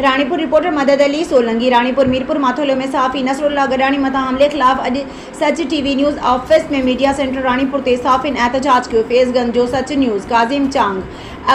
Ranipur, reporter, Madad Ali Solangi, Ranipur, Mirpur Mathelo ۾ صحافي نصرالله گڏاڻي مٿان حملي خلاف اڄ Sach TV news office ۾ media centre Ranipur تي صحافين احتجاج ڪيو، فيض گنج جو سچ نيوز، ڪاظم چانگ،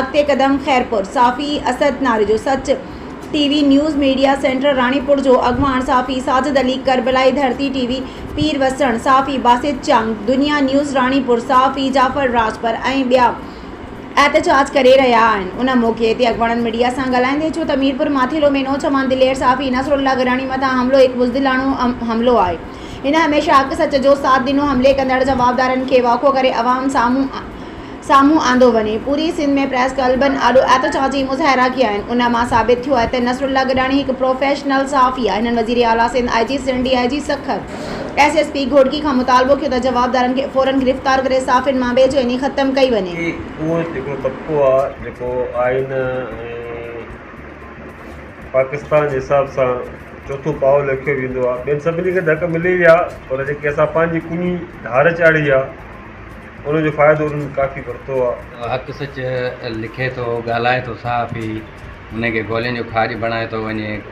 اڳتي قدم خيرپور، صحافي اسد ناري جو Sach TV news, media centre Ranipur جو اڳواڻ صحافي ساجد علي، ڪربلائي ڌرتي ٽي وي، پير وسڻ، صحافي باسط چانگ، دنيا نيوز راڻيپور، صحافي جعفر راڄپر ۽ ٻيا. احتجاج ڪري رهيا آهن ان موقعي تي اڳواڻن ميڊيا سان ڳالهائيندي چيو ته ميرپور ماٿيلو ۾ نوجوان دلير صحافي نصر الله گراني مٿان حملو هڪ بزدلاڻو حملو آهي هن هميشه حق سچ جو ساٿ ڏنو حملي ڪندڙ جوابدارن کي واکو ڪري عوام سامهون سامهون آندو وڃي پوري سنڌ ۾ پريس ڪلبن آڏو احتجاجي مظاهرا ڪيا آهن ان مان ثابت ٿيو آهي ته نصر الله گراني هڪ پروفيشنل صحافي آهي هنن وزير اعليٰ Sindh I G Sindh D I G Sukkur S S P Ghotki کان مطالبو ڪيو ته جوابدارن کي فورن گرفتار ڪري صحافين مان بي چيني ختم ڪئي وڃي. هي اهو هڪڙو طبقو آ جيڪو آئين ۽ پاڪستان جي حساب سان چوٿون پاء ليکيو ويندو آ. ٻين سڀني کي ته حق ملي ويا آ پر جيڪي اسان پنهنجي ڪني ڌار چاڙهي آ ان جو فائدو انهن ڪافي ورتو آ. حق سچ لکي ٿو، ڳالهائي ٿو صحافي، انهي کي گولين جو کاڄ بڻائي ٿو وڃي.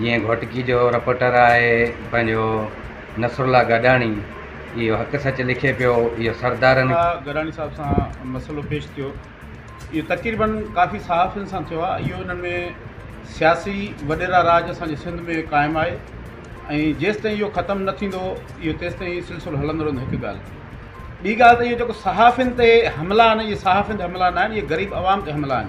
جيئن گهوٽڪي جو رپورٽر آهي پنهنجو نصرالله گڏاڻي اهو حق سچ لکي پيو اهو سردارن کي. گڏاڻي صاحب سان مسئلو پيش ٿيو اهو تقريبن ڪافي صحافين سان ٿيو آهي اهو انهن ۾ سياسي وڏيرا راڄ اسان جي سنڌ ۾ قائم آهي ۽ جيستائين اهو ختم نه ٿيندو اهو تيستائين سلسلو هلندو رهندو هڪ ڳالهه ٿي ٻي ڳالهه ته اهو جيڪو صحافين تي حملا آهن اهي صحافين تي حملا نه آهن اهي غريب عوام تي حملا آهن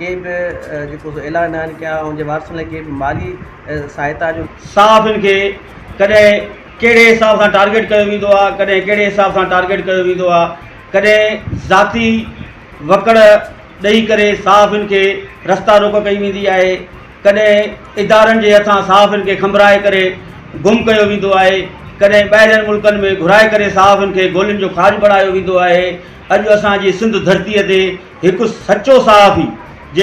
ڪي به جيڪو سو اعلان ناهن ڪيا ۽ ان جي وارثن لاء ڪي به مالي سهائتا جو صحافين کي ڪڏهن ڪهڙي حساب سان ٽارگيٽ ڪيو ويندو آهي ڪڏهن ڪهڙي حساب سان ٽارگيٽ ڪيو ويندو آهي ڪڏهن ذاتي وڪڙ ڏئي ڪري صحافين کي رستا روڪ ڪئي ويندي آهي ڪڏهن ادارن جي هٿان صحافين کي کنڀرائي ڪري گم ڪيو ويندو آهي ڪڏهن ٻاهرين ملڪن ۾ گهرائي ڪري صحافين کي گولين جو کاڄ بڻايو ويندو آهي اڄ اسان جي سنڌ ڌرتي تي هڪ سچو صحافي جي.